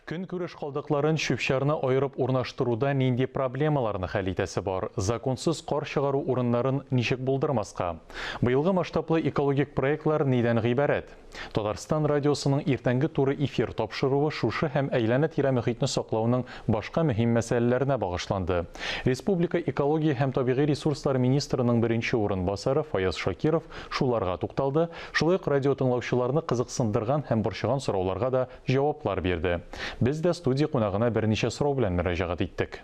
Көнкүреш калдыкларын чүп-чарны аерып урнаштыруда нинди проблемаларны хәл итәсе бар? Законсыз кар чыгару урыннарын ничек булдырмаска? Быелгы масштаблы экологик проектлар нидән гыйбарәт? Татарстан радиосының иртәнге туры эфир тапшыруы шушы һәм әйләнә-тирә мөхитне саклауның башка мөһим мәсьәләләренә багышланды. Республика экология һәм табигый ресурслар министрының беренче урынбасары Фаяз Шакиров шуларга тукталды, шулай ук радиотыңлаучыларны кызыксындырган һәм борчыган сорауларга да Җаваплар бирде. Без дә студия кунагына берничә сорау белән мөрәҗәгать иттек.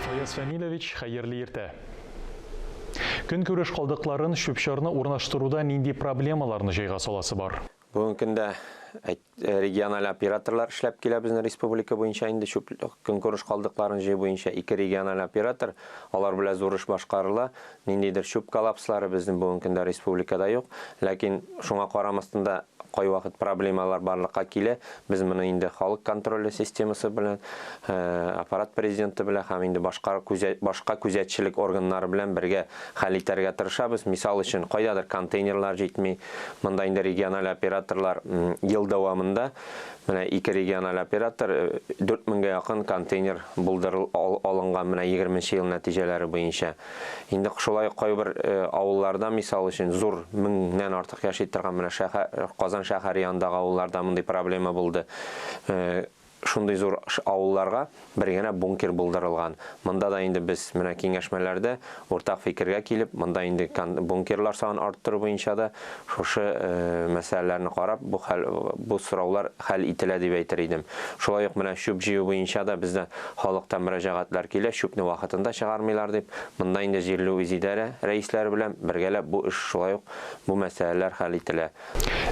Фаяз Фәнилович, хәерле иртә! Көнкүреш калдыкларын, чүп-чарны урнаштыруда нинди проблемаларны җайга саласы бар? Бүгенге көндә региональ операторлар эшләп килә безнең республика буенча инде чүп көнкүреш калдыкларын җыю буенча ике региональ оператор, алар белән зур эш башкарыла. Ниндидер чүп коллапслары безнең бүгенге көндә республикада юк. Ләкин шуңа карамастан да кайвакыт проблемалар барлыкка килә. Без моны инде халык контроле системасы белән, аппарат президенты белән һәм инде башка башка күзәтчелек органнары белән бергә хәл итәргә тырышабыз. Мисал өчен, кайдадыр контейнерлар җитми, Монда инде региональ операторлар ел дәвамында менә ике региональ оператор 4000гә якын контейнер булдырыл алынган менә 20 нче ел нәтиҗәләре буенча. Инде шулай ук кайбер авылларда, мисал өчен, зур 1000 ннән артык яши торган менә шәһәр Казан шәһәре янындагы авылларда мондый проблема булды. Шундый зур авылларга бер генә бункер булдырылган. Монда да инде без менә киңәшмәләрдә уртак фикергә килеп, монда инде кан бункерлар санын арттыру буенча да шушы мәсьәләләрне карап, бу хәл бу сораулар хәл ителә дип әйтер идем. Шулай ук менә чүп җыю буенча да бездә халыктан мөрәҗәгатьләр килә, чүпне вакытында чыгармыйлар дип. Монда инде җирле үзидарә рәисләре белән бергәләп бу эш шулай ук бу мәсьәләләр хәл ителә.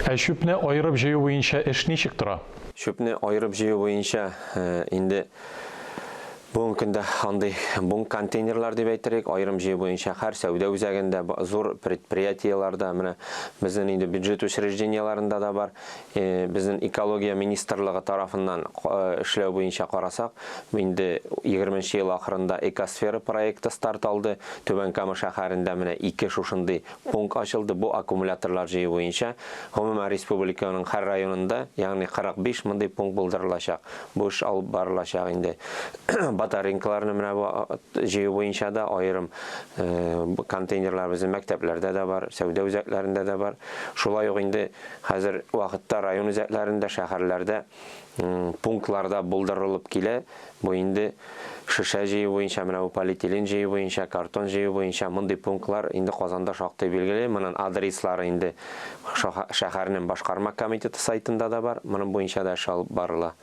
Ә чүпне аерып җыю буенча эш ничек тора? Чүпне аерып җыю буенча инде бүгенге көндә андый бунг контейнерлар дип әйтерик, аерым җыю буенча һәр сәүдә үзәгендә, зур предприятиеләрдә, менә безнең инде бюджет учреждениеләрендә дә бар. Безнең экология министрлыгы тарафыннан эшләү буенча карасак, инде 20 нче ел ахырында Экосфера проекты старт алды. Түбән Кама шәһәрендә менә ике шушындый Пункт ачылды, бу аккумуляторлар җыю буенча, гомумән, республиканың һәр районында, ягъни 45 мондый пункт булдырылачак. Бу эш алып барылачак инде. Батаренкаларны менә бу җыю буенча да аерым контейнерлар безнең мәктәпләрдә дә бар, сәүдә үзәкләрендә дә бар. Шулай ук инде хәзер вакытта район үзәкләрендә, шәһәрләрдә пунктларда булдырылып килә. Бу инде шешә җыю буенча, менә бу полиэтилен җыю буенча, картон җыю буенча мондый пунктлар инде Казанда шактый билгеле. Монын адреслары инде шәһәрнен башкарма комитеты сайтында да бар. Монын буенча да эш алып барыла.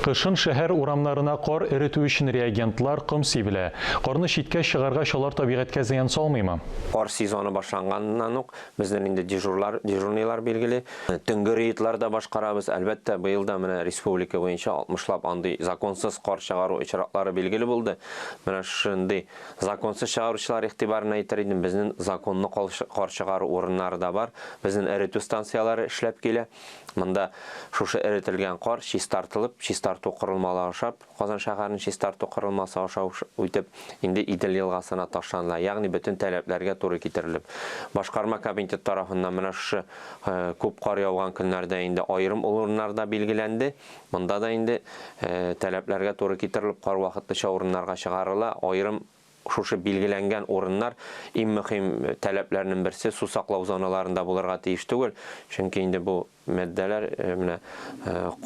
Кышын шәһәр урамнарына кар эретү өчен реагентлар, ком сибелә. Карны читкә чыгаргач алар табигатькә зыян салмыймы? Кар сезоны башланганнан ук Безнең инде дежурлар, дежурныйлар билгели. Төнге рейдлар да башкарабыз. Әлбәттә, быел да менә республика буенча алтмышлап андый законсыз кар чыгару очраклары билгеле булды. Менә шундый законсыз чыгаручылар игътибарына әйтер идем, безнең законлы кар чыгару урыннары да бар. Безнең эретү станцияләре эшләп килә. Монда шушы эретелгән кар чистартылып, чистарту корылмалары ашап, Казан шәһәрен чистарту корылмасы аша үтеп, инде Идел елгасына ташланыла, ягъни бөтен таләпләргә туры китерелеп. Башкарма комитет тарафыннан менә шушы күп кар яуган көннәрдә инде аерым урыннарда билгеләнде. Монда да инде таләпләргә туры китерелеп, кар вакытлыча урыннарга чыгарыла, аерым Шушы билгеләнгән урыннар иң мөхим таләпләрнен берсе су саклау зоналарында булырга тиеш түгел, чөнки инде бу маддәләр менә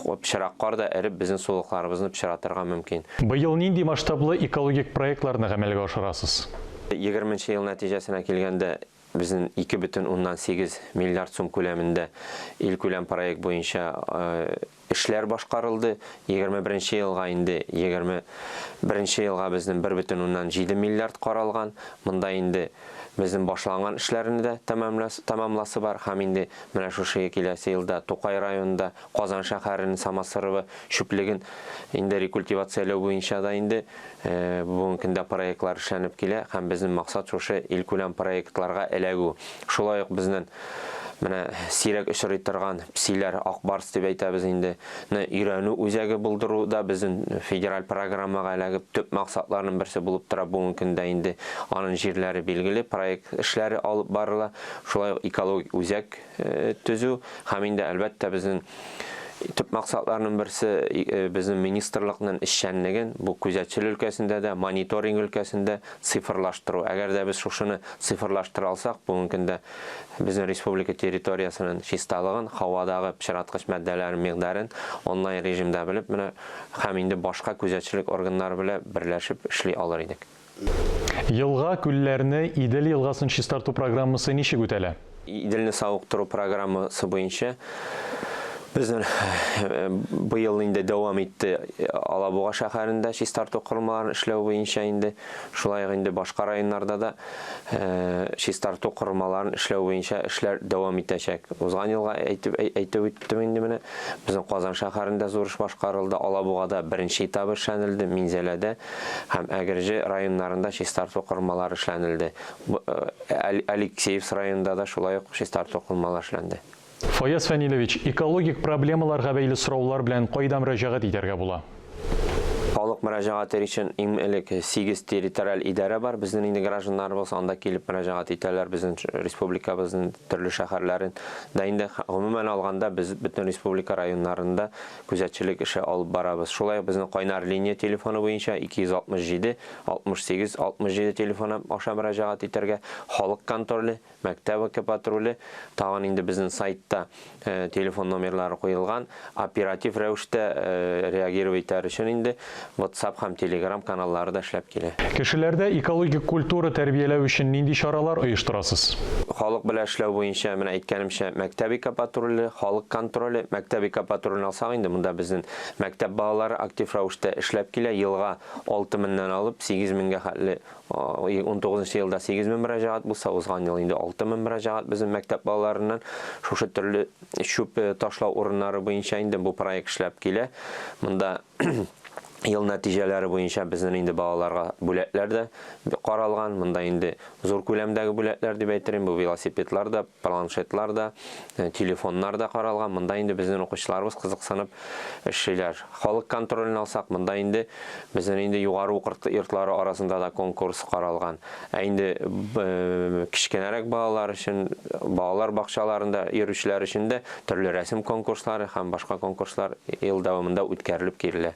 пычырак кар да эреп безнен сулыкларыбызны пычыратырга мөмкин. Быел нинди масштаблы экологик проектларны гамәлгә ашырасыз? Егерменче ел нәтиҗәсенә килгәндә, Безнен ике бөтен уннан сигез миллиард сум күләмендә илкүләм проект буенча эшләр башкарылды. Егерме беренче елга инде егерме беренче елга безнен бер бөтен уннан җиде миллиард каралган. Монда инде безнен башланган эшләрне дә тәмамласы бар һәм инде менә шушы киләсе елда Тукай районында, Казан шәһәрен Самосоровы чүплеген инде рекультивацияләү буенча да инде бүгенге көндә проектлар эшләнеп килә һәм безнең максат шушы илкүләм проектларга эләгү. Шулай ук безнен менә сирәк очрый торган псиләр, ак барс дип әйтәбез инде, ны өйрәнү үзәге булдыру да безнен федераль программага эләгеп төп максатларның берсе булып тора бүгенге көндә инде анын җирләре билгеле, проект эшләре алып барыла, шулай ук экологик үзәк, төзү һәм инде әлбәттә безнең төп максатларның берсе безнең министрлыкның эшчәнлеген бу күзәтчел өлкәсендә дә, мониторинг өлкәсендә цифрлаштыру. Әгәр дә без шушыны цифрлаштыра алсак, бүгенге көндә безнең республика территориясенең чисталыгын, һавадагы пычраткыч матдәләрнең микъдарын онлайн режимда белеп, менә һәм инде башка күзәтчелек органнары белән берләшеп эшли алыр идек. Елга, күлләрне, Идел елгасын чистарту программасы ничек үтәлә? Иделне савыктыру программасы буенча безнең быел инде дәвам итте Алабуга шәһәрендә чистарту корылмаларын эшләү буенча инде, шулай ук инде башка районнарда да чистарту корылмаларын эшләү буенча эшләр дәвам итәчәк. Узган елга әйтеп үттем инде менә. Безнең Казан шәһәрендә зур эш башкарылды, Алабугада беренче этабы эшләнелде, Минзәләдә һәм Әгерҗе районнарында чистарту корылмалары эшләнелде. Алексеевск районында да шулай ук чистарту корылмалары эшләнде. Фаяз Фәнилевич, экологик проблемаларга бәйле сораулар белән кайда мөрәҗәгать итәргә була? Халык мөрәҗәгатер өчен иң элек сигез территориаль идарә бар. Безнең нинди гражданнарыбыз анда килеп мөрәҗәгать итәләр, безнең республикабызның төрле шәһәрләрен. Да инде гомумән алганда без бөтен республика районнарында күзәтчелек эше алып барабыз. Шулай ук безнең кайнар линия телефоны буенча 267 67 67 телефоны аша мөрәҗәгать итәргә, халык контроле, Мәктәп экопатруле тагын инде безнең сайтта телефон номерлары куелган, оператив рәвештә реагировать итәр өчен инде WhatsApp һәм Telegram каналлары да эшләп килә. Кешеләрдә экологик культура тәрбияләү өчен нинди чаралар оештырасыз? Халык белән эшләү буенча, менә әйткәнемчә, мәктәп экопатруле, халык контроле. Мәктәп экопатрулен алсак инде, монда безнең мәктәп балалары актив рәвештә эшләп килә. Елга алты меннән алып сигез менгә хәтле 19-нчы елда 8 мең мөрәҗәгать булса, узган ел инде 6 мең мөрәҗәгать безнең мәктәп балаларыннан шушы төрле чүп ташлау урыннары буенча инде бу проект эшләп килә. Монда ел нәтиҗәләре буенча безнең инде балаларга бүләкләр дә каралган. Монда инде зур күләмдәге бүләкләр дип әйтермен, бу велосипедлар да, Планшетлар да, телефоннар да каралган. Монда инде безнең укучыларыбыз кызыксынып эшлиләр. Халык контролен алсак, монда инде безнең инде югары уку йортлары арасында да конкурс каралган. Ә инде кечкенәрәк балалар өчен, балалар бакчаларында йөрүчеләр өчен дә төрле рәсем конкурслары һәм башка конкурслар ел дәвамында үткәрелеп килә.